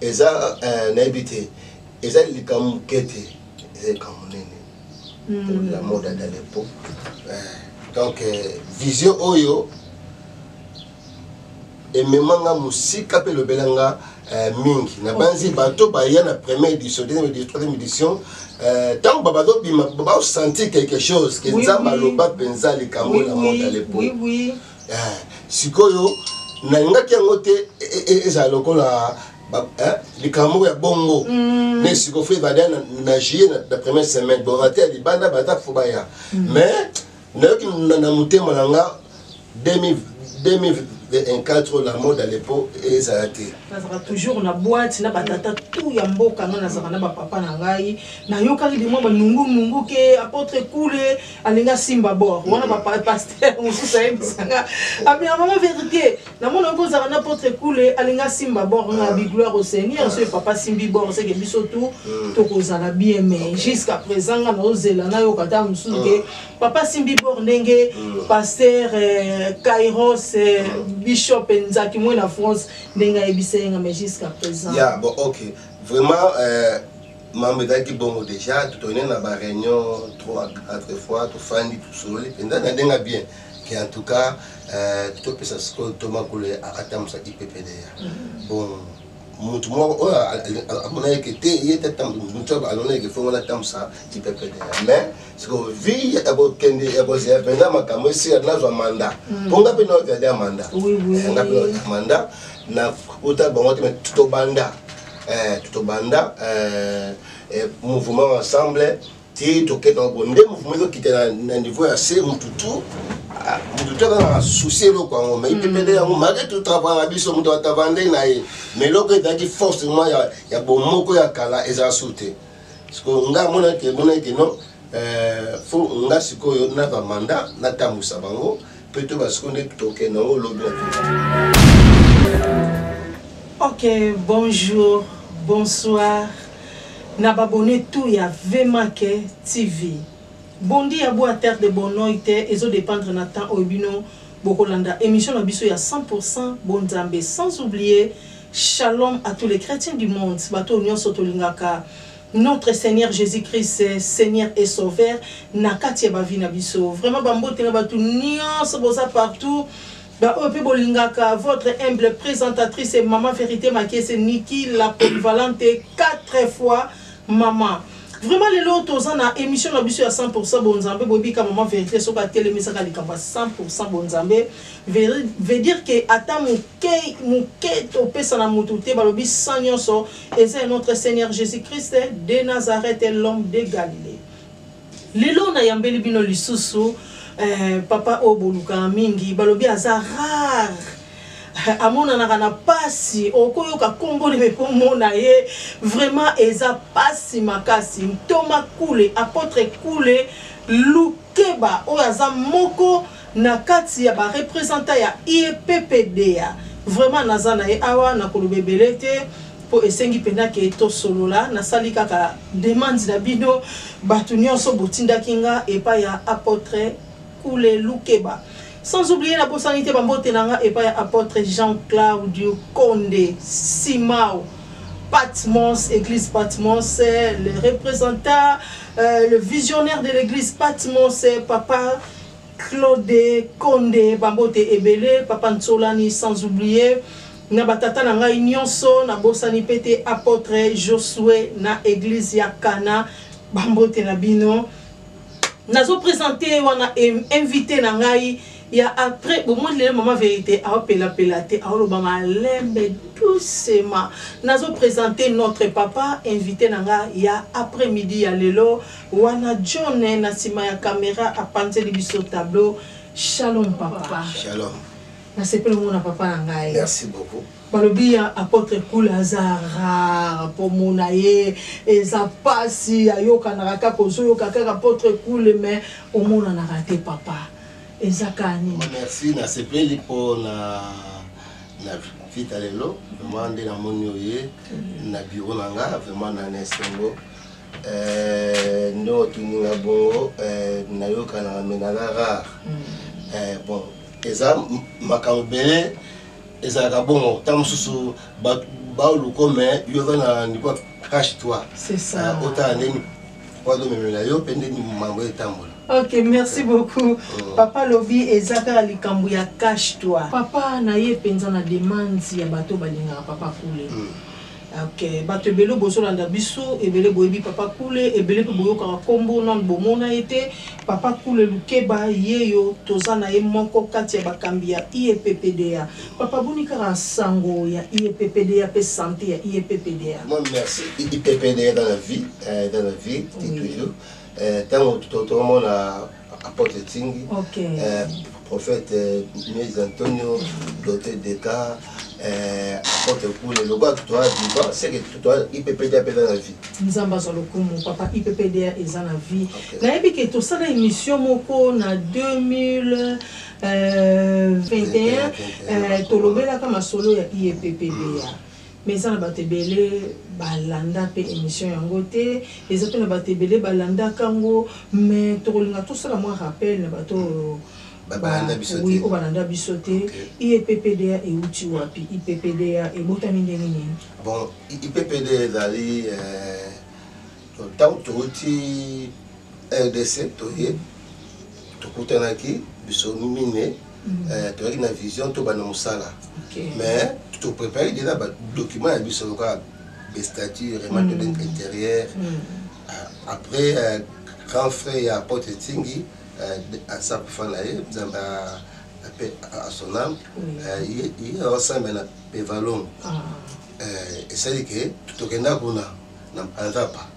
eza eh, nayebi te eza likambo moke te eza likambo monene hmm. pour la mode ya dalepo eh, donc eh, vision oyo emema nga mosika mpe elobela nga mingi nabanzi bato baya na première édition deuxième édition troisième édition ntango euh, babazobima baosentir quelque chose ke nzambe aloba mpenza likambo na monde à l'époque eh, sikoyo nalingaki yango te e, e, e, ezala lokola eh, likambo moko ya bongo mm. ne sikoyo fo ebanda na juillet na première semaine bon ate ya libanda bata fo baya mm. mais nayoki na motema na nga 2024 la mode à l'époque ezala te nazalaka toujours na boite na batata tout ya mboka nga nazalaka na bapapa na ngai nayokaki bimwa banungunungu ke apotre kule alingi asimba bor wana bapaster mm. mosusu ayebisanga abina mama verité namona oki ozalaka na potre kule alingi asimba bor nga ah. bigloire au seigneur ah. soki papa asimbi bor seke biso tu mm. tokozala bien mais jusqu'à présent nga naozela nayoka ata mosusu ke mm. papa asimbi bor ndenge paster euh, kairos euh, bishop nzaki moi na france ndenge ayebisa yenga mais jusqu'à présent yeah, bon, okay. vraiment euh... mambo ezalaki bongo deja totoyine na ba réunion trois quatre fois tofandi tosololi mpenza na ndenga bien ke en tout cas euh, topesa sikoyo to makolo atambusa ipepeleya mm-hmm. bon motu moko oyo amonaki te ye te motu alonaki fongo natambusa ipepeleya mais sikoyo vi ya kokende ya kozela mpenza makambo esila nazwa manda mpo mm. nga mpe naozali ya manda eh, nga mpe naozali ya manda na uta bango te tobanda eh, tobanda eh, eh, mouvement ensemble ti toketa bo nde mouvement ezokita na niveau ya se mutu tu ah, mutu tu akaka na souci eloko yango mai pepele yango malgré tout travail na biso moto atavandei na ye mais eloko ezalaki force mwa ya, ya bomoko ya kala eza su te sikoyo ngai amonaki emonaki no eh, fo ngai sikoyo na bamanda natambwisa bango Peto basiko nde toke na o lobi Ok, bonjour, bonsoir. Na babone tout ya Vemake TV. Bondi ya boa terre de Bonoy te ezo dépendre na temps oyo bino bokolanda émission na biso ya 100% bonzambe sans oublier shalom à tous les chrétiens du monde bato nyonso tolingaka Notre seigneur Jesus Christ seigneur et sauveur na kati ya ba vie na biso vraiment ba mbote na batu nionso boza partout ba oyo pe bolingaka votre humble présentatrice et maman vérité makese Niki la polyvalente quatre fois maman vraiment lelo toza na émission na biso ya 100% bonzambe bobika maman vérité soki atelemisaka likambo ya 100% bonzambe veut dire que ata moke moke topesa na motu te balobi sans nyonso Eza ya notre seigneur Jesus Christ de Nazareth l'homme de Galilee. Lelo na yambeli bino lisusu eh, papa oyo bolukaka mingi balobi aza rare eh, amonanaka na pasi okoyoka kombo na ekomona ye vraiment eza pasi makasi ntoma kule apotre kule lukeba oyo aza moko na kati ya ba representants ya IEPPDA vraiment naza na ye awa na koloba ebele te po esengi penza ke to solola na sali kaka demande na bino batu nionso bo tindaki nga epai ya apotre Kule Lukeba sans oublier na bosani te ba mbote na nga epai ya apotre Jean Claudio Konde Simao Patmos, église Patmos, le representant, euh, le visionnaire de l'église Patmos, papa Claude konde ba mbote ebele papa nsolani sans oublie na ba tata na ngai nionso na bosani pe te apotre josue na eglise ya kana ba mbote na bino nazo presente wana invite na ngai ya après bomoni lelo mama verite aopelapela te aoloba malembe doucement nazo presente notre papa invité na nga ya après midi ya lelo Wana John na sima ya camera apanzeli biso tableau Shalom papa. Shalom. Na sepeli mona papa na ngai. Merci beaucoup. balobi ya apotre kula aza rare mpo mona ye eza mpasi ayokanaka kaka ozoyoka kaka apotre kule me omonanaka te papa eza kaka nini merci nasepeli mpo na na vita lelo vraiment nde namoni oye na biro na nga vraiment na na esengo Euh, nde otuni nga bongo euh, nayokanaka me naza rare mm. euh, bon eza makambo ebele ezalaka bongo ntango mosusu baoluko me yo oza na niveau cache toi otala ndeni wadomemela yo mpe ndeni mambo etambola ok merci beaucoup mm. papa lobi eza kaka likambo ya cache toi papa na ye mpenza na demande ya bato balingaka papa kule mm. Ok batu ebele bozo landa biso ebele boyebi papa kule ebele pe boyokaka kombo nanu bomona ye te papa kule lukeba yeyo toza na ye moko kati ya bakambi ya IEPPDA papa boni kaka sango ya IEPPDA pe sante ya IEPPDA. Moi merci IEPPDA eza na vie eza na vie ti toujours tango tokomona apôtre Tsingi, okay. euh, prophète euh, Moïse Antonio, l'auteur des cas, euh, apôtre Koule, le gars qui doit vivant, c'est que tu dois IPPDA est dans la vie. Nzamba za lokumu, papa IPPDA est dans la vie. Okay. Na yebi que tout ça na émission moko na 2000 euh, 21 euh, tolobelaka masolo ya IPPDA. Mm. Mais eza na batu ebele ba landa pe emission yango te, eza pe na batu ebele ba landa ka ngo, mais toko linga to sala mwa rappel na batu oyo ba landa biso te, oui oyo ba landa biso te, IEPPDA ewuti wapi? IPPDA ebotami ndenge nini? Bon IPPDA ezali tangu to wuti rdc toye to kutanaki biso mine euh, toyaki na vision tobanda mosala mais toprépare déjà badocument ya biso lokola bestature remate mm. intérieur mm. euh, après euh, grand frère ya pote etingi aza kufa na ye nzambe ape asonam ye aosambe na pevalon ah. esali ke tokenda kuna na nzapa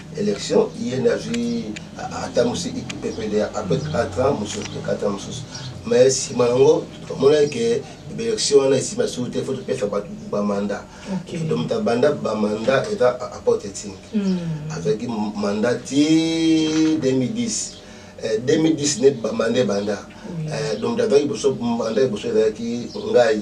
election ye nde azwi atambusi ppd apres 4 ans mosusu to 4 ans mosusu mais nsima yango tomonaki ke baelection wana esima lisusu te fo topesa bato bamanda donc moto abanda bamanda eza aporte etini hmm. azwaki manda ti 2010 2010 nde bamanda ebanda donc moto azwaki liboso manda liboso ezalaki ngai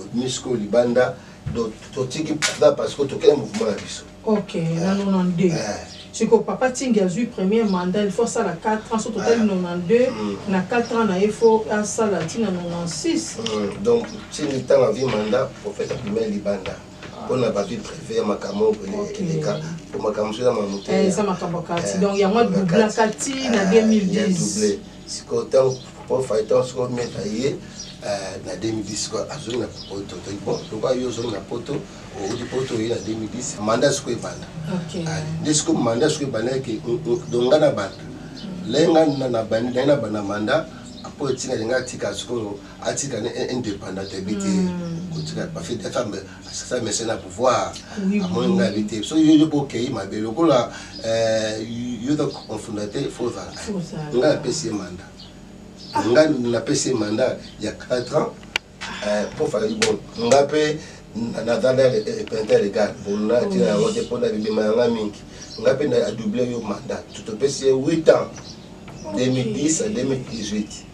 obimi sikoyo libanda donc totiki papa parce que tokei mouvement na biso ok na 92 sikoyo papa tingi azwi premier mandat il faut asala 4 ans so totali 92 na 4 ans na ye fo asala ntina 96 donc tingi ntango azwi mandat prophète abimai libanda mpona ba vie privé ya makambo oyo eleka mpo makambo mosusu eza makambo te eza makambo kati donc yango adoubla kati na 2010 sikoyo ntango mpo faitan sikoyo meta ye na 2010 sikoyo azongi na poto toyi bon lokola yo ozongi na poto outi poto oye na 2010 manda sikoyo ebanda nde sikoyo manda sikoyo ebandaki donc nga na banda lenga na bandi naye na banda manda mpo etinga linga atika sikoyo atika ne indépendant te bi te hmm. kotika bafi te femme asasa mese na pouvoir amoni nga bi te so yo yo bokei mabe lokola euh, yo donc confunda te fo ozala nga napesi ye mandat ah. nga napesi ye mandat ya 4 ans euh, po fali bon nga mpe nazala repente legal bona tina yango te mpo na bibima yanga mingi nga mpe na adouble yo mandat topesi ye 8 ans 2010 à 2018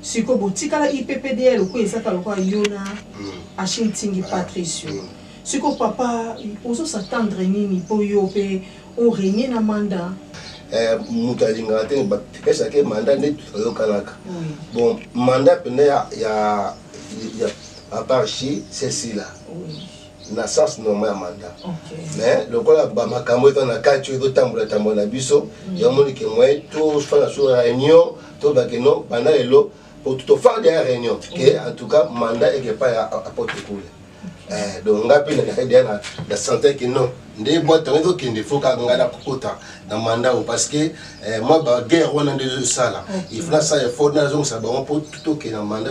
Sikoyo botikala yppdl ko ezaka lokola yo na Achille Ntingi Patricio. Sikoyo papa ozo s'attendre nini po yo pe o regner na mandat? Eh mutu alingaka te ba pesa ke mandat nde toyokanaka. Bon mandat penda ya ya ya papa Achille c'est sila. na sens normal ya mandat okay. mais lokola bamakambo eza na kati oyo ezotambola tambola na biso mm. yamoni ke moye tosala so réunion toba que non banda lelo po tofandi ya réunion ke en tout cas mandat eke epai ya apotre kule eh, donc ngai mpe nazalaki deya na sentir ke non nde bwate yango ezokende fo kaka ngai nakokota na manda oyo parce que eh, mwa baguerre wana nde ezosala il faut nasala effort nazongisa bango mpo tokende na manda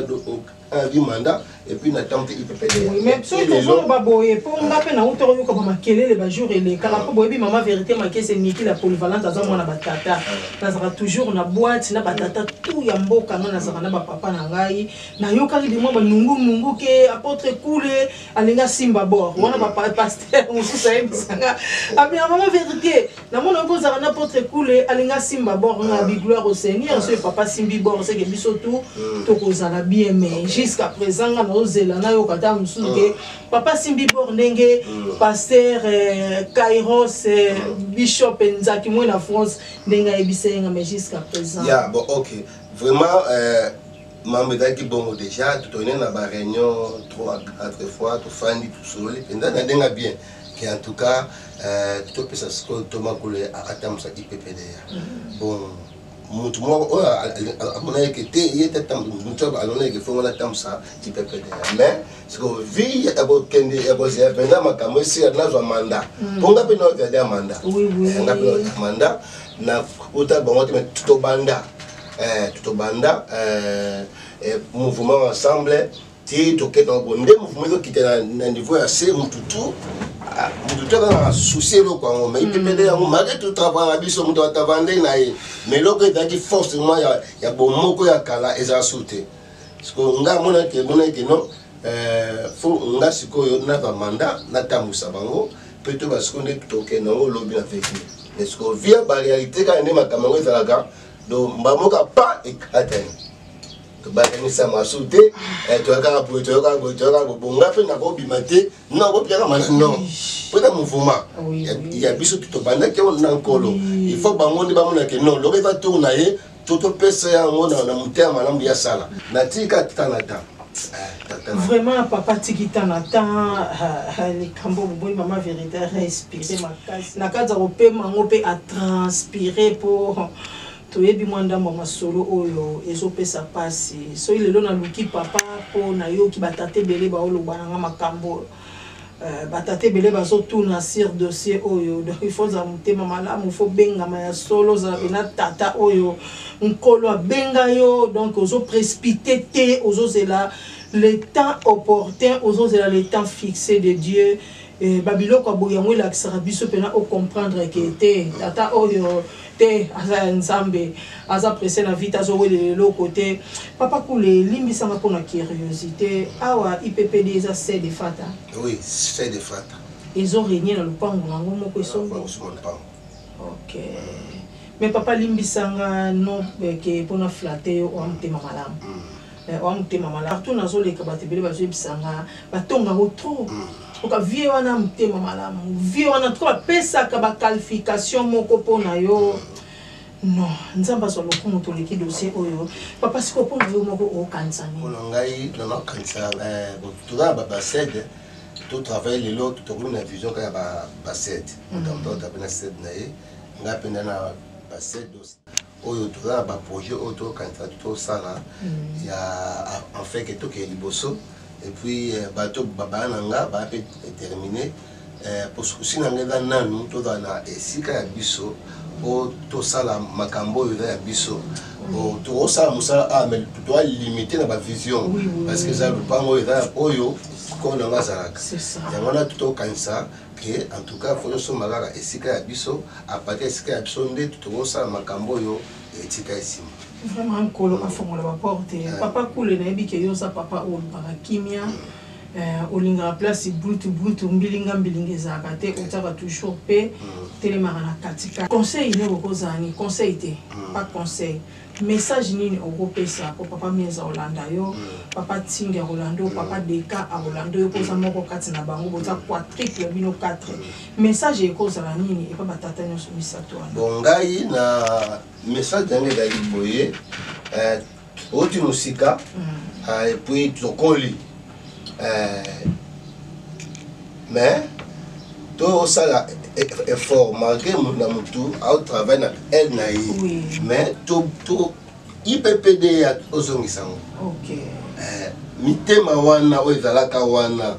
un du mandat et puis na temps il peut payer oui, mais tu es toujours ba boye pour nga pe na uto yo ko ba makelele ba jour et les kala ko boye bi maman vérité ma kese niki la polyvalente azo mwana ba tata na sera toujours na boîte na ba tata tout ya mboka na sera na ba papa na ngai na yo kali bi mwa ba nungu nungu ke apôtre kule alinga simba bord wana ba pasteur mususa ye bisanga abi maman vérité Namona ko zala na potre kule alinga simba bord na bi gloire au seigneur ce papa simbi bord c'est que biso tout mm. to ko zala bien mais jusqu'à présent nga na ozela na yo kata musu ke mm. papa simbi bord ndenge mm. pasteur euh, Kairos euh, bishop Nzaki moi na France ndenge ayebisa nga mais jusqu'à présent ya bon OK vraiment euh mambo ezalaki bongo déjà toyene na baréunion trois quatre fois tofandi tosoli mpenza na ndenge bien ke en tout cas euh, topesa sikoyo ntoma kule atambusa ippda mm-hmm. bon motu moko oyo amonaki ke te ye te motu alonaki ke fongo natambusa ippda mais sikoyo vi ya kokende ya kozela mpenza makambo esila nazwa manda mm. mpo nga mpe naoviada ya manda eh, nga mpe naoviada manda na uta bango te me tobanda eh, tobanda eh, mouvement ensemble ti tokenda ngo nde mouvement ezokita na niveau ya se mutu tu ah, mutu tu akanga susi eloko yango mai pepele yango malgre tout travail na biso moto atavande na ye mais eloko ezalaki force mwa ya bomoko ya kala ezala su te siko nga amonaki emonaki ke non euh, fo nga sikoyo na bamanda natambwisa bango mpe to basiko nde tokenda yango lobi na veki mais siko via barealité kaka nde makambo yango ezalaka donc mbamoka pa ekatani tobakanisa masu te eh, toyakaka boye toyokaka boye toyokaka boye bonga mpe nakobima te na okopiaka mana non mpo na mouvema ya biso tobandaki yango na nkolo il faut bango nde bamonake non lokola eza tour na ye to topesa yango na motema malamu ya sala natika tanata eh, vraiment papa tiki tanata eh, eh, likambo boboyi mama verité respire makasi na kati ya kopema yango mpe atranspire mpo Toyebi mwa ndambo ya masolo oyo ezo pesa pasi. Soki lelo na luki papa po na yoki ba tata ebele bao loba na nga makambu oyo. Euh ba tata ebele bazo tuna sur dossier oyo donc il faut ozala motema malamu, il faut obengama ya solo, ozala pena tata oyo nkolo abenga yo donc ozo prespite te ozo zela le temps opportun, ozo zela le temps fixe de Dieu Eh, ba biloko ya boye yango elakisaka biso mpena o comprendre ke te tata oyo te aza ya nzambe aza presse na vite azowelela eloko te papa kule limbisanga mpo na curiosité awa ippd eza se de fata oui se de fata ezo renie na lopango na yango moko esombi ok mais papa limbisanga no eh, ke mpo na flatte yo oa motema malamu mm. Eh, wa motema malamu partout nazoleka bato ebele bazoyebisa nga batonga yango trop hmm. oka vie wana motema malamu vie wana toko bapesaka baqualification moko mpo na yo hmm. non nzambe azwa lokumu toleki dossier oyo papa siko mpo na yo moko okanisa ninimpona ngai nanakanisa eh, toza na babasede totravaille lelo tokomi na vision kaka ya basede motambo hmm. totape na sede na ye ngai mpenza na basede oyo toza na ba projet oyo tokanisa tosala ya en fait que tokeye liboso et puis euh, bato babaya na nga baya mpe termine euh, mpo sukusi na nga eza nanu tozala na esika ya biso mpo tosala makambo oyo eza ya biso oh, tokosala mosala a ah, mais toa limite na bavision parce que eza lopango oyo eza oyo kolo na nga azalaka yango wana tokanisa que en tout cas faut tosomba kaka esika ya biso à partir ya esika ya biso nde tokosala makambo oyo etika esima vraiment nkolo afongola baporte eh. papa kule nayebi ke yo oza papa oyo olukaka kimia eh, olingaka place brutu brutu mbilinga mbilinga ezalaka te eh. otiaka toujours mpe mm. telemaka na katikati conseil nde okozala ni conseil te mm. pas conseil Message nini oko pesa po papa miez akolanda yo, papa tsingi akolanda yo, papa deka akolanda yo po oza moko kati na bango boza quatriple bino quatre message eko zala nini epa ba tata nionso misatu wana? Bon ngai na message na ngai ezali boye eh, oti mosika mm. eh, epuis tokoli eh, mais tosala e, e, effort malgré na mutu aotravaille na aile na ye mais ippd ozongisa yango eh, mitema wana oyo ezalaka wana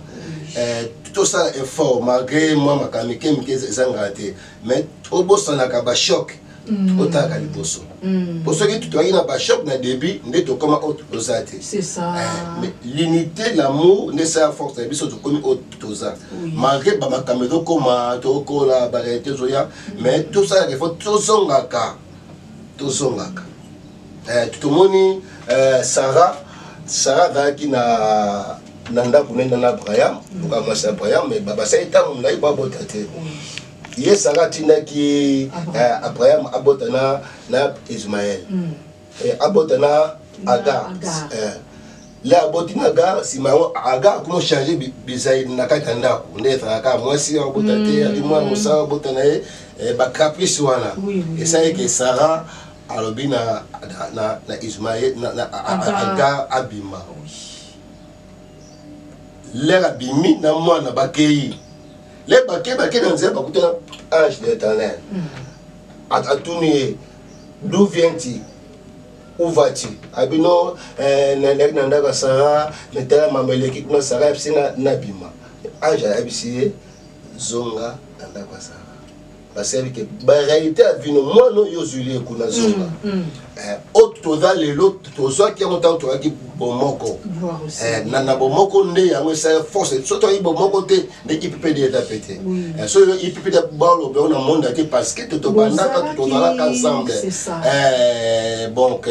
eh, tosala effort malgré mwa makambo mike mike ezangaka te mais obosanaka bachoke Mm. otalaka liboso mm. po soki toyaki na bachoc na début nde tokoma oyo toza te eh, l'unité l'amour nde esala force na biso tokomi oyo toza malgré bamakambo ezokoma tokola barealité ezoya mm. mais tosalaka efo tozongaka tozongaka eh, tomoni eh, sarah sarah azalaki na na ndako nenda na abraham loka mwasi abraham mais basali ntango molai babota te ye sara atindaki eh, abraham abota na, na ismael mm. eh, abota na agar eh. le aboti na agar nsima yango agar kuma ochange bizali na kati ya ndako nde ezalaka mwasi abota te mm. ali mwana mosala abota na ye eh, bacaprice wana esalaki sara alobi na, na, na, na ismael na, na, agar abima lere abimi na mwana bakei le bake bake na nzela bakutana ange de l'éternel atuni ye d'où viens-tu où vas-tu abi no eh, naleki na ndako ya sara natala mambo eleki kuna sara yebisi nga nabima ange ayebisi ye zonga na ndako ya sara basali te barealité ya vino mwana oyo ozwili ye kuna zonga mm, mm. eh, oyo toza lelo tozwaki yango ntango tozalaki bomoko eh, na bomoko nde yango esali force so toyaki bomoko te nde ippd eza mpe te eh, so ippd baloba yango na monde ake parce que totobandaka tozalaka ensemble donc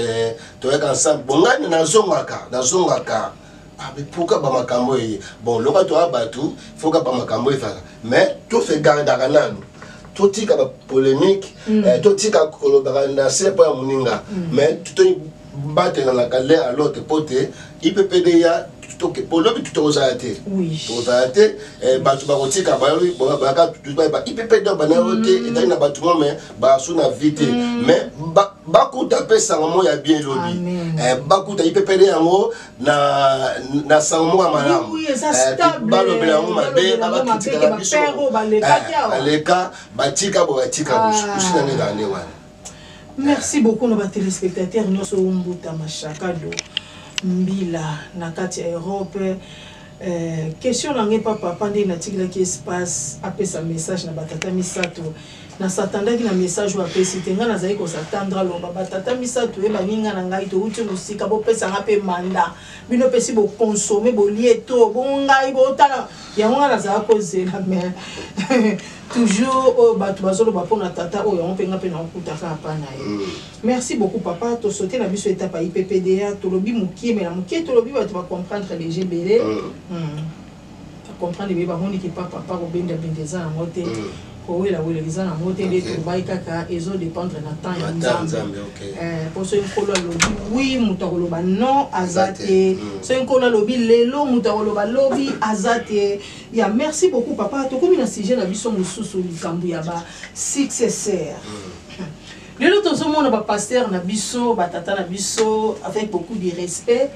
toyaka ensemble bongani nazongaka nazongaka Ah, mais pourquoi ba makambo eye bon loka toa bato foka ba makambo ezala mais to se gardaka nanu totika ba polémique mm. eh, totika kolobaka na se mpo ya moninga mm. mais tobatelanaka l'un à l'autre mpo te ippd ya mpo lobi tokozala te tokozala te eh, bato bakotika bayaka ippd banayo te mm. etali na bato mo mais basu na vie te mais bakuta mpe sango moko ya bien lobi eh, bakuta ipepele yango na, na sango moko ya malamu eh, balobela yango mabe babakitikaka biso baleka eh, batika bo batika ah. usi na ndenge ane wana merci beaucoup na batelespectateur nyonso ombuta mashakado mbila na kati ya europe eh, question na ngai papa papa nde natikelaki espace apesa message na batata misato Na s'attendaki na message oyo apesi te. Ngai nazalaki ko s'attendre aloba ba tata misatu oyo ba ninga na ngai towuti mosika bo pesa ngai pe mandat. Bino pe esi bo consommer bolie trop bongo ngai bo tala yango ngai nazalaki ko zela mais toujours oyo batu bazo loba pona tata oyo yango pe ngai pe nako kuta kaka epai na ye. Merci beaucoup papa to sauter na biso etape ya IPPDA tolobi mukie mais na mukie tolobi batu ba comprendre dejà ebele. ba comprendre mieux bamoni ke pa papa kobenda benda eza na ngo te kowela wela eza na ngo te nde tolobaki kaka ezo dependre na temps ya nzambe po soki nkolo alobi wi moto akoloba non aza te soki nkolo alobi lelo moto akoloba lobi aza te ya merci beaucoup papa tokomi na sujet na biso mosusu likambo ya ba successeur lelo tozomona bapaster na biso batata na biso avec beaucoup de respect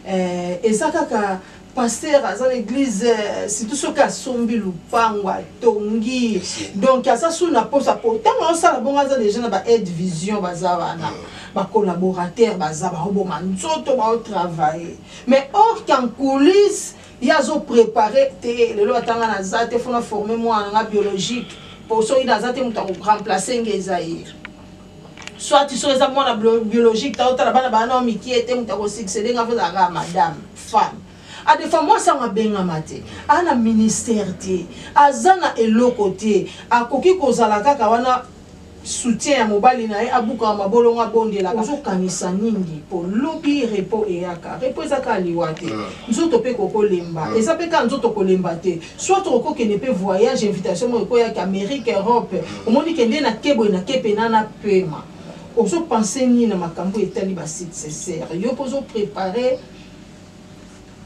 eh, eza kaka pasteur aza na église euh, surtout soki asombi lupango atongi donc aza sous na posa po ntango aosala bongo aza déjà na ba aide vision baza wana mm. bacollaborateur baza baoboma nzoto baotravaille mais or qu'en coulisse ye azoprépare te lelo atanga naza te fona forme mwana nga biologique po soki naza te moto akoremplace nge eza ye soit so eza mwana biologique ta otala bana bana o mikie te moto akosuccede nga mpozala kaka madame femme adefa mwasi yango abengama te aa na ministère te aza na eloko te akoki kozala kaka wana soutien ya mobali na ye abukaka mabolongo abondelaka ozokanisa nini mpo lobi repo eyaka repo eza kaka liwa te ah. nzoto mpe kokolemba ah. eza mpe kaka nzoto kolemba te soit oko kende pe voyage invitation mo ko ya Amerique Europe omoni kende na kebo na kepe na na pema ozo penser ni na makambo etali ba sites c'est sérieux pozo préparer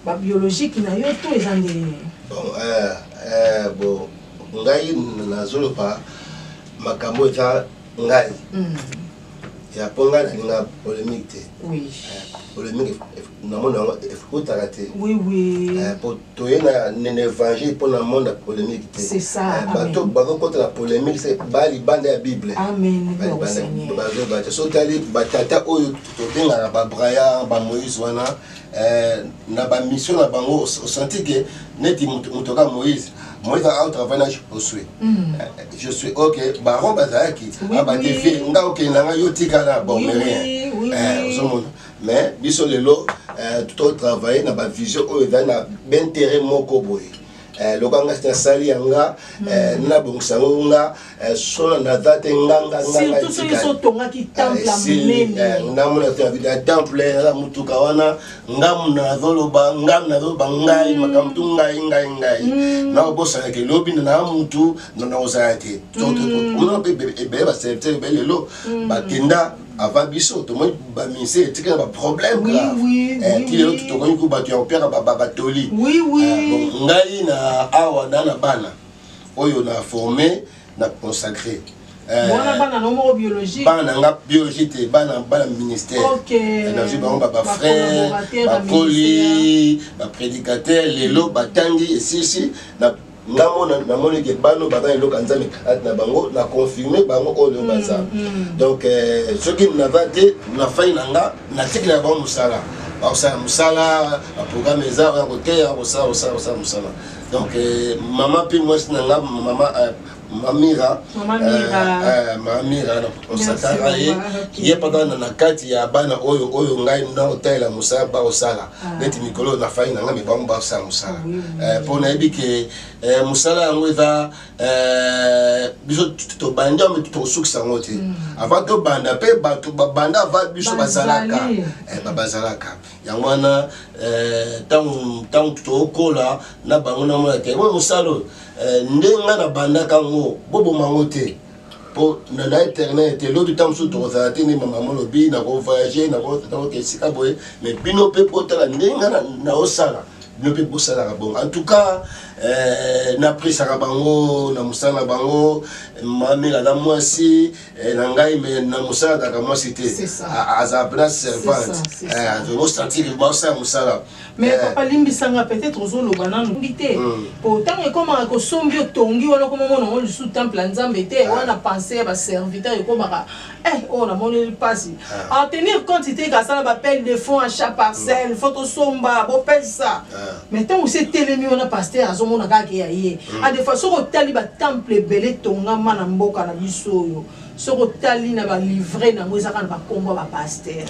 ba biologique na yo to eza ndenge nini bon euh euh bon ngai nazoloba makambo eza ngai mm. ya po ngai nalinga polemique te polemique namona yango ekotaka te eh, po toye na évangile mpo na monde ya polemique te eh, bato bakokota na polemique se balibanda ya bible bazobate so tali batata oyo tobengaka babrayar bamoïse wana Euh, na ba mission na bango osanti ke neti moto ka moïse moïse au travail na josue mm. euh, josue ok baron bazalaki abadefi ah, nga okende na ngai yo tikala bormerien euh, ozomona mais biso lelo totravaille na bavision oyo ezali na baintérêt moko boye eh, loka nga nasali ya nga mm. eh, nabongisa yango nga eh, sona naza te ngangasurtout soki so otongaki eh, temple ya monene eh, namona te abida ya temple naza motuka wana ngamu nazoloba ngamu nazoloba ngai mm. makambo tu ngai ngai ngai mm. nakobosana ke lobi na naa motu na nakozala te ebele baserviteur ebele lelo bakenda avant biso tomoni bamise etikala baproblème ti lelo tokoki ko bato ya kopiaka batoli euh, ngai na awa na na bana oyo na forme na consacré euh, bana na nga biologie te bana bana ministère euh, nazwi bango bafrère bakoli baprédicateur lelo batangi esisi nga mona namoni ke bano baza na eloko ya nzambe kati na bango na confirme bango oyo mm, baza mm. donc euh, soki nava te nafai na nga natiki na bango mosala bakosala mosala baprogramme eza ya koteya kosala kosala kosala mosala donc euh, mama mpe mwasi na nga mama euh, mamira mamira osataka ye ye mpaka na kati ya bana oyo oyo ngai naotalela mosala bakosala ah. neti mikolo oyo nafai na nga me bango basala mosala eh, mpo nayebi ke eh, mosala yango eza eh, biso tobandi yango tokosukisa yango te mm. avant tobanda mpe bato babanda avant biso bazalaka bazalaka yango wana ntango tokola na bango namona te mosala oyo nde ngai nabandaka yango boboma yango te po na na internet elobi ntango mosusu tokozala te nde mama olobi nakovoyage nakoke esika boye mais bino mpe mpo otala ndenge nga naosala bino mpe bosalaka bongo en tout cas eh, napesaka bango na mosala na bango mamela na mwasi eh, na ngai me na mosala kaka mwasi te azala mpena servante eh, azobosantire baosala mosala mais eh. papa limbisa nga peut-être ozoloba nanu ngi te hmm. po ntango ekomaka kosombi otongi wana okoma mona yango lisusu temple ya nzambe te eh. wana pense ya baserviteur ekomaka eh oyo oh, namoneli mpasi eh. en tenir compte te kasala bapele de fond à chaque parcelle hmm. fo tosomba bopesa mais ntango se etelemi wana paster azomona kaka ke ya ye hmm. a ah, de fois soki otali batemple ebele etongama na mboka na biso oyo soki otali na balivre na yango ezaka na bakombo ya bapaster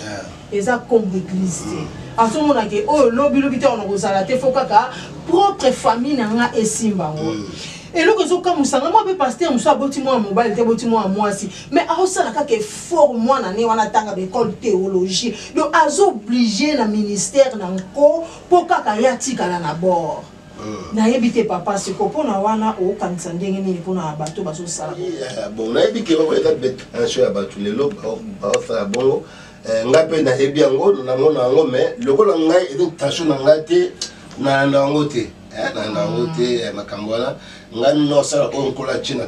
eza kombo eglise te azomona ke oyo oh, lobi lobi te wana kozala te fo kaka propre famille na nga esimba yango mm. eloko ezokamusa nga mwa mpe paster mosusu aboti mwana mobali te boti mwana mwasi mais aosala kaka effort mwana ne wana atanga baekole théologie donc azooblige na ministère na nko mpo kaka ye atikala na bord mm. nayebi te papa siko mpona wana okanisa ndenge nini mpona bato bazosala eh, bon nayebi ke bakoyaka betension ya bato lelo baosala bongo Eh, ngai mpe nayebi yango namona yango mais lokola ngai eza tension na ngai te nayanda yango te eh, nayanda yango te mm. eh, makambo wana ngai nino asala oyo nkolo atie na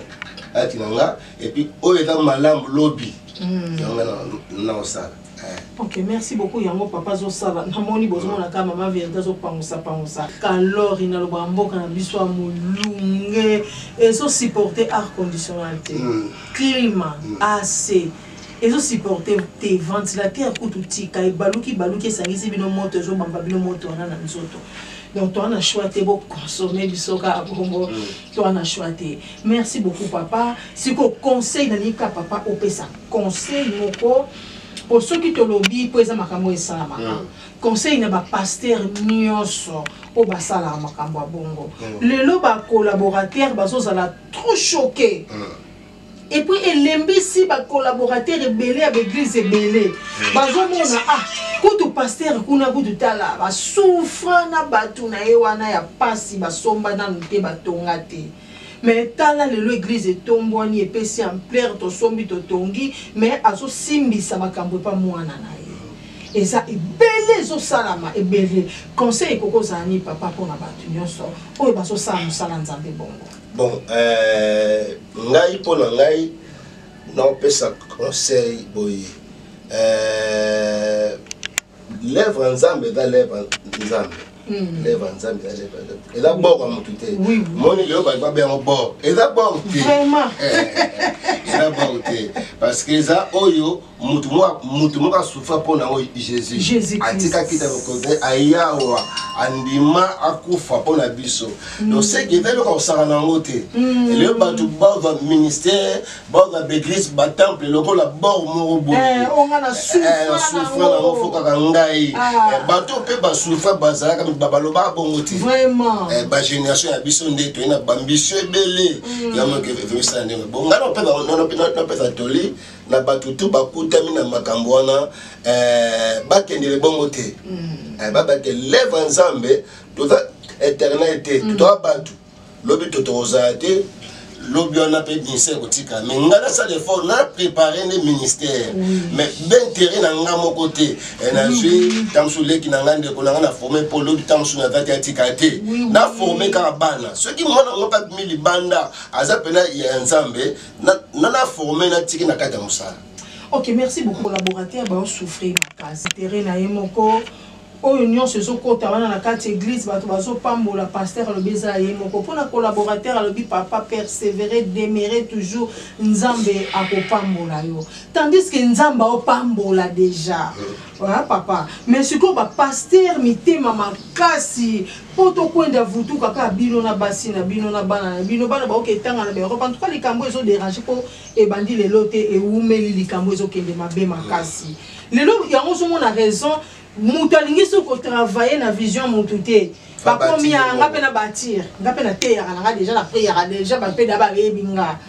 kati na ngai epuis oyo eza malamu lobi mm. yango ngai naosala ok merci beaucoup yango papa azosala namoni bozomona kaka mama verité azopangusa pangusa kalori nalobaka mboka na biso ya molunge ezosupporte art conditionnel te mm. climat mm. ac ezo supporte te ventilateur kutu tika ebaluki baluki esangisi bino moto ezo bamba bino moto wana na nzoto donc toi na choix te bo consommer biso kaka bongo mm. toi na choix te merci beaucoup papa siko conseil na nika papa opesa conseil moko po soki tolobi po eza makambo esalamaka mm. conseil na bapaster nyonso oyo basalaka makambo ya bongo mm. lelo bacolaborateur bazozala trop choqué et puis elembisi ba collaborateurs ebele ya baeglise ebele hmm. bazomona ah kutu pasteur kuna kutu tala basufra na bato na ye wana ya mpasi basomba nanu te batonga te me tala lelo eglize etombwani epesi amplere tosombi totongi me azosimbisa makambo epa mwana na ye eza ebele ezosalama ebele conseil ekoki ozala nini papa mpona bato nyonso oyo bazosala mosala nzambe bongo bon euh, ngai mpo na ngai naopesa conseil boye euh, lèvre ya nzambe eza lèvre nzambe hmm. lèvre nzambe eza lèvre nzambe eza bor ya motu te moni lelo bato babe yango bor eza bor te eh, eh, eh, eza bor te parce que eza oyo mutu mwa mutu moko asufra mpo na oyo jésus atikaki ta lokobe ayawa andima akufa mpo na biso mm. donc seke eza eloko akosaka na yango te mm. eleo bato bazwa ministère bazwa baeglise batemple lokola bor moko boyesufra eh, eh, na yango fo kaka ngai ah. eh, bato mpe basufra bazalaka balobaka bongo te bagénération ya biso nde toye na bambisio ebele mm. yango ekevemisana ndenge bongo ngai napesa toli na bato tu bakutami na makambo wana eh, bakendele bongo te mm. eh, baba te leva nzambe toza éternel te mm. totoa bato lobi to tokozala te lobi wana mpe ministère kotika mais ngai nasala effort na prépare nde ministère mais baintérêt na ngai moko te eh, nazwi ntango mosusu leki na ngai ndeko na ngai na forme mpo lobi ntango mosusu naza te atika te na forme kaka bana soki mwana moko abimi libanda aza mpena ya nzambe na na na former na tiki na kati ya musala ok merci beaucoup collaborateur ba souffrir makasi terrain na ye moko oyo nyonso ezokota wana na kati eglise bato bazopambola paster alobi eza ye moko mpo na collaborateur alobi papa persevere demere toujours nzambe akopambola yo tandis ke nzambe aopambola deja euh. papa mais sikoyo bapaster mitema makasi po tokwenda vutu kaka bino na basi na bino na bana na bino bana baoke etanga na baeurope en tout cas likambo ezo dérange po ebandi lelo te ewumeli likambo ezokende mabe makasi lelo yango ozomona raison moto alingi soki kotravaille na vision motu te bakomi ya nga mpe na batire nga mpe nateyaka na nga deja na priyaka deja bampe da bayebi nga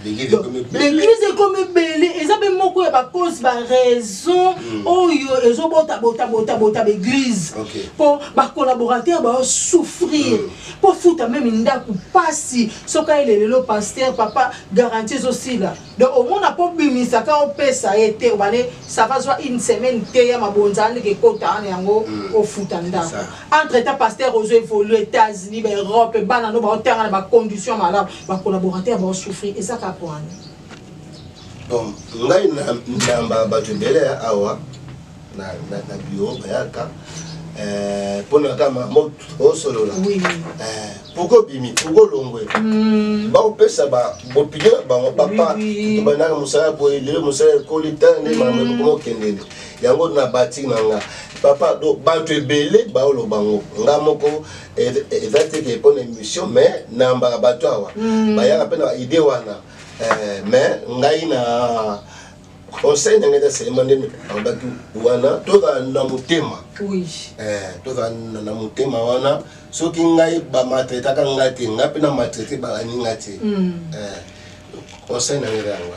baeglise ekomi ebele eza mpe moko ya bacause baraison hmm. oyo ezobotabotabotabota baeglise mpo bacolaborateur baosouffrir mpo hmm. futa meme ndako mpasi soki ayele lelo paster papa garanti ezosila donc omona mpo bimisaka opesa ye te obale sava zwa une semaine te ya mabonza andeke ekota ana yango hmm. ofuta ndako entre temps paster ozo évolue états-unis baeurope bana no baotanga na bacondition malamu Ba collaborateurs ba souffrir eza ka koana. Donc ngai na ndamba bato ebele awa na na na bureau bayaka euh pona kama mot osolola. Oh, oui. Euh pourquoi bimi pourquoi longwe. Mm. Ba opesa ba bopigela bango papa to banaka musala boye lelo musala ekoli tan ne mama mm. ko kendele. Yango na bati na nga. Papa do bato ebele baolo bango nga moko eza te ke mpona émission mais nayambaka bato awa hmm. bayaka mpe na idée wana eh, mais ngai na conseil na ngai eza selema nde alobaki wana tozala na motema eh, tozala na motema wana soki ngai bamatretaka ngai te ngai mpe na matrete balani ngai te hmm. eh, conseil na ngai eza yango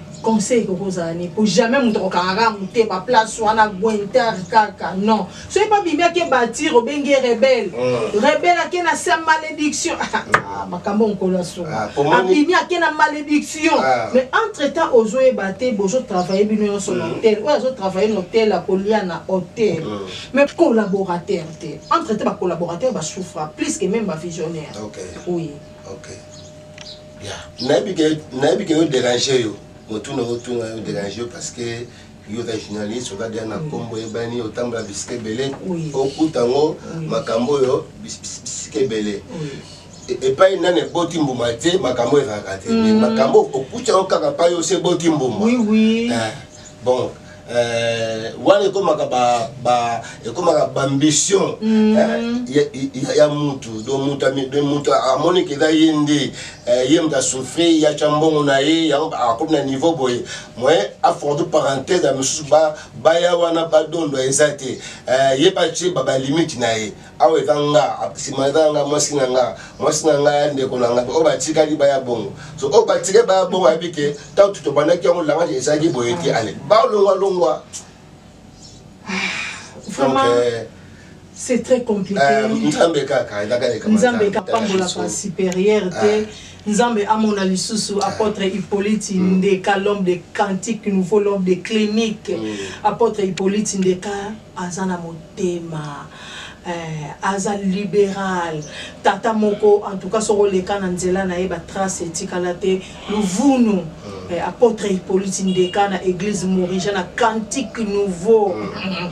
conseil ekoki kozala nini po jamais moto akokangaka mote ba place wana guinter kaka non soki mpe abimi ake batir obenge rebele mm. rebele ake na sa malédiction ah, ah, makambo mokolo ya soka ah, abimi ake na malédiction mais entre temps ozoyeba te bozotravaille bino nyonso na mm. hotel oyo azotravaille na hotel akolia na hotel mm. mais collaborateur te entre temps bacollaborateur basouffra plus que même bavisionnaire oui okay. nayebi ke yo dérange yo motuna otuna yo dérange yo parce que yo oza journaliste oza deya na nkombo oyebani otambola bisika ebele okuta yango makambo oyo bisika ebele e, epai nani eboti mbuma te makambo ezalaka te mm. makambo okuta yango kaka pai osi eboti mbuma eh, bon Euh, wana ekomaka ba, ba, ekomaka baambition mm. hein, ya, ya, ya mutu do mutu amoni ke eza ye nde eh, ye mutu asouffri ye atya mbongo na ye yango akomi na niveau boye moye afordu parenthèse ya misusu baya wana badondo eza te eh, ye batye balimite na ye awa eza nga nsima eza nga mwasi na nga mwasi na nga ya ndeko na nga oyo batikali baya bongo so oyo batikali baya bongo ayebi ke ntango tobandaki yango langage ezalaki boye te ale balongwa longwa vraiment euh, c'est très compliqué euh, nzambe kaka ezaka nzambe kapambolaka supérieur te euh. nzambe amona lisusu apôtre hippolyte mm. ndeka l'homme de cantique nouveau l'homme de clinique mm. apôtre hippolyte ndeka Aza na motema eh, aza liberal tata moko en tout cas soki oleka na nzela na ye ba trace etikala te luvunu hmm. eh, apôtre Hippolyte Ndeka na église Morija na cantique nouveau hmm.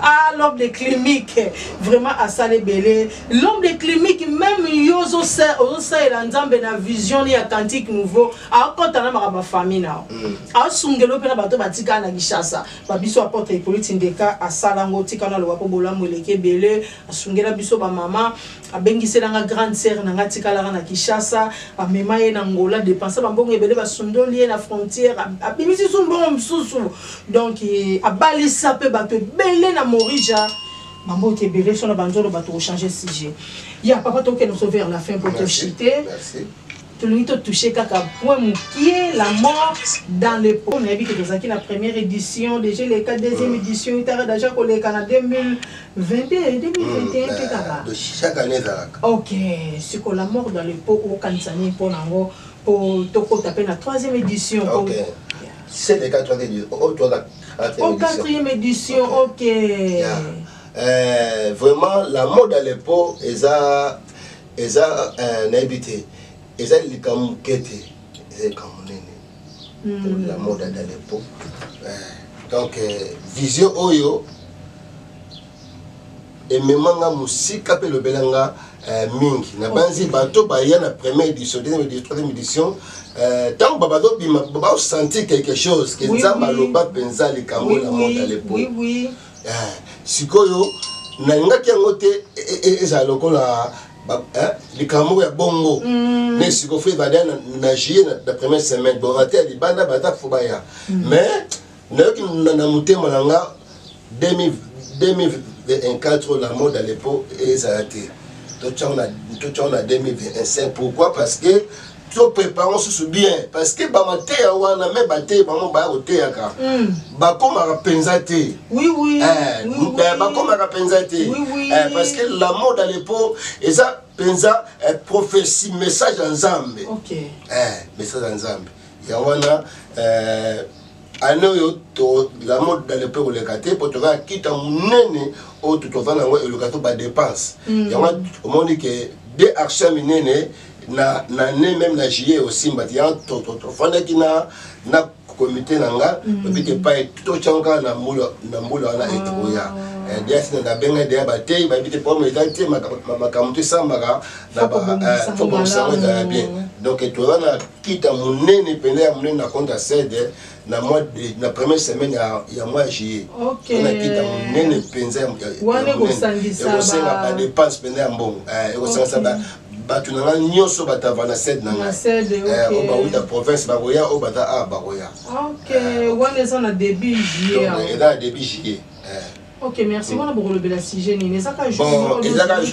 ah l'homme de clinique vraiment asala ebele l'homme de clinique même yo ozosalela nzambe na vision ya cantique nouveau akota na makambo ya famille na yo hmm. asungelo mpe na bato batikala na Kinshasa ba biso apotre hypolite ndeka asala ngo tika na loba po bolamu eleki ebele asungela biso ba mama abengisela nga grande sœur na nga tikalaka na Kinshasa amema ye na Angola depensa ba mbongo ebele basundoli ye na frontière abimisi su mbongo mosusu donc eh, abalisa pe bato ebele na Morija bambote ebele sona banzolo bato kochange sujet ya papa tokende so vers la fin po toshite tolingi to touche kaka point mokie la mort dans le po nayebi ke tozalaki na première édition déjà eleka deuxième édition itaka daja koleka na 2022 2021 mpe kaka chaque année ezalaka ok siko la mort dans le po okanisa nini mpo na yango mpo tokota mpe na troisième édition okay. c'est le cas troisième édition au troisième au quatrième édition ok, okay. Yeah. Euh, vraiment la mort dans le po eza eza eh, nayebi te eza likambo moke te eza likambo monene hmm. pour la mode ya dalepo eh, donc eh, vision oyo emema nga mosika mpe elobela nga mingi nabanzi bato baya na première édition deuxième édition troisième édition ntango euh, babazobima baosentir quelque chose ke nzambe aloba mpenza likambo na monde à l'époque eh, sikoyo nalingaki yango te e, e, e, ezala lokola eh, likambo moko ya bongo mm. ne sikoyo fo ebanda na juillet na première semaine bon ate ya libanda bata fo baya mm. mais nayoki na motema na nga 2024 la mode à l'époque ezala te totyango na 2025 pourquoi parce que to prépare mosusu bien parce que bamateya wana me bateyi bango baya koteyaka hmm. bakomaka mpenza te eh, eh, bakomaka mpenza te eh, parce que la mode à l'époque eza mpenza prophétie message ya nzambe message ya nzambe yango wana ane oyo tozala modale mpe koleka te mpo tozala kita monene oyo totovanda yango eloka to badepense mm. yango omoni ke de action minene na na ne meme na juillet osimba ti yango tofandaki na na komite na nga mm. obi te pai totyango kaka na mbula wana ekoya oh. Eh, diasi na nabenga deya bateyi bayebi te pome eza te makambo to esambaka na fo bosango ezala bien donc toza na kita monene mpenza ya monene na compte ya sede na mois de na première semaine ya, ya mois ya juillet okay. na kita monene mpenza ekosenga badepense mpenza ya mbongo eh, ekosangisa okay. bato na ngai nyonso batava na sede na ngai eh, oyo bauta province bakoya oyo bata a ah, bakoya eh, eza na début juillet ok merci wana bokolobela sujet nini eza kaka bon eza kaka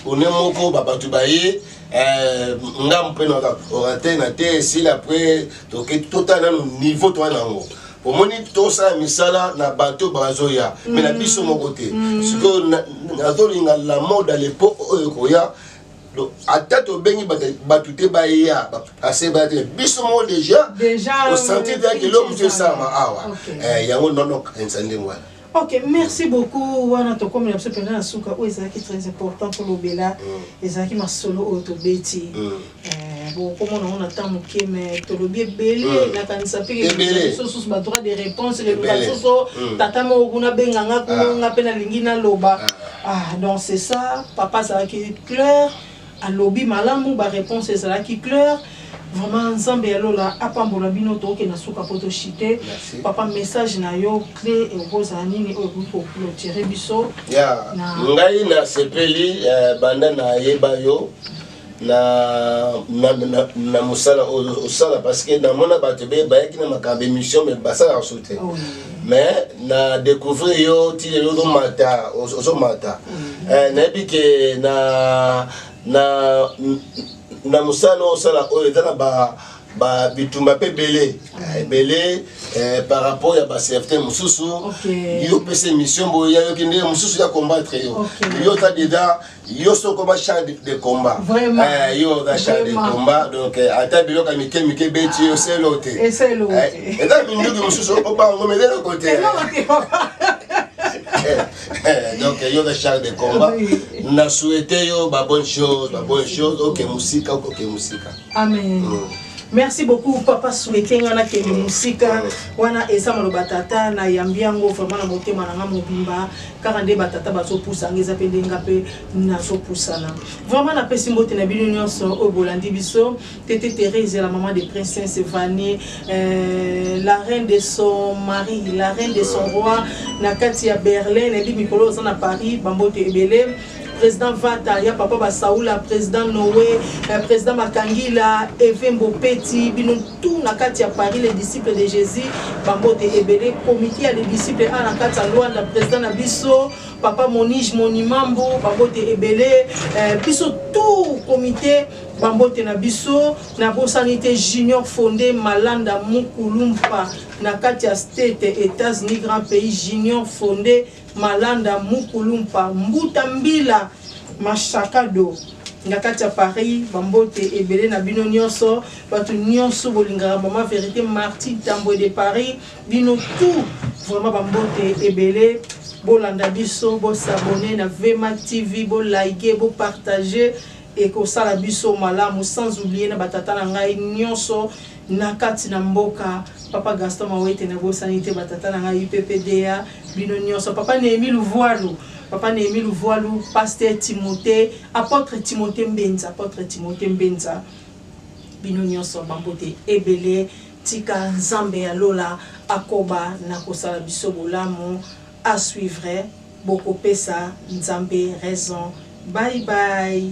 one moko babato baye eh, nga mpe na orateur na te esila après toke totala nano niveau toa na yango omoni tosala misala na bato bazoya me na mm. biso moko te mm. sikoyo nazolinga la mode a lepoque oyo ekoya ata tobengi bato te baya ase baya te biso moko déjà osentir teyaki eloko mosu esalama awa eh, yango nonokanisa ndenge wana Ok, merci beaucoup. Wana tokomi na biso pena na suka oyo ezalaki très important tolobela mm. ezalaki masolo oyo tobeti mm. eh, bokomona ngo na temps moke me tolobi ebele mm. nakanisa mpe lisusu badroit de réponse leloka lisusu tata moko kuna benga nga kuna ah. nga mpe nalingi naloba ah. ah, donc c'est ça papa azalaki claire alobi malamu ba reponse ezalaki cleur vraiment nzambe ya lola apambola bino toke na suka po toshite papa message na yo cle ekozala nini oyo ekoki koclotire biso ya ngai nasepeli eh, banda nayeba yo na, na, na, na mosala oyo osala parce que namona bato bayaki na makambo émission me basalaka so te mais na découvrir yo ti lelo ozomata ozomata mm. eh, nayebi ke na na na mosala osala oyo eza na ba ba bitumba mpe ebele mm. ebele eh, par rapport ya baserviteur mosusu yo opesa émission boye yayoki nde mosusu ya combattre yo yo oza deja yo soko ba char de combat eh, yo oza char de combat donc eh, ata biloko ya mike mike ebeti yo selo te eza eh, minduki mosusu obango meleloko te donc yo oza char de combat na souhaite yo babonne chose babonne chose oke mosika okoke mosika amen mm. merci beaucoup papa souhaite nga nakende mosika wana eza maloba tata nayambi yango vraiment na motema na nga mobimba kaka nde batata bazopusanga eza mpe nde nga mpe nazopusana vraiment napesi mbote na bino nyonso oyo bolandi biso tete therese la maman de princesse vanie euh, la reine de son mari la reine de son roi na kati ya berlin nayebi mikolo oza na paris bambote ebele president vata ya papa basaula president noe eh, president makangila evembo peti bino tu na kati ya paris les disciples de jésus bambote ebele komite ya les disciples a na kati ya luanda president na biso papa monige monimambo bambote ebele eh, biso tu komite bambote na biso nabosani te junior fonde malanda mukulumpa na kati ya state etats-unis grand pays junior fonde Malanda, Mukulumpa, Mbuta Mbila, Mashakado na kati ya Paris, bambote ebele na bino nyonso, bato nyonso bolingaka mama verite Martin Tambwe de Paris, bino tout vraiment bambote ebele bolanda biso, bo s'abonner na VMAC TV, bo liker, bo partager Ekosala biso malamu sans oublier na ba tata na ngai nionso na kati na mboka papa Gaston Mawete na bosani te ba tata na ngai UPPDA bino nionso papa Nehemie Luvualu papa Nehemie Luvualu pasteur Timote apotre Timote Mbenza apotre Timote Mbenza bino nionso ba mbote ebele tika Nzambe ya lola akoba na kosala biso bolamu à suivre bokopesa nzambe raison bye bye.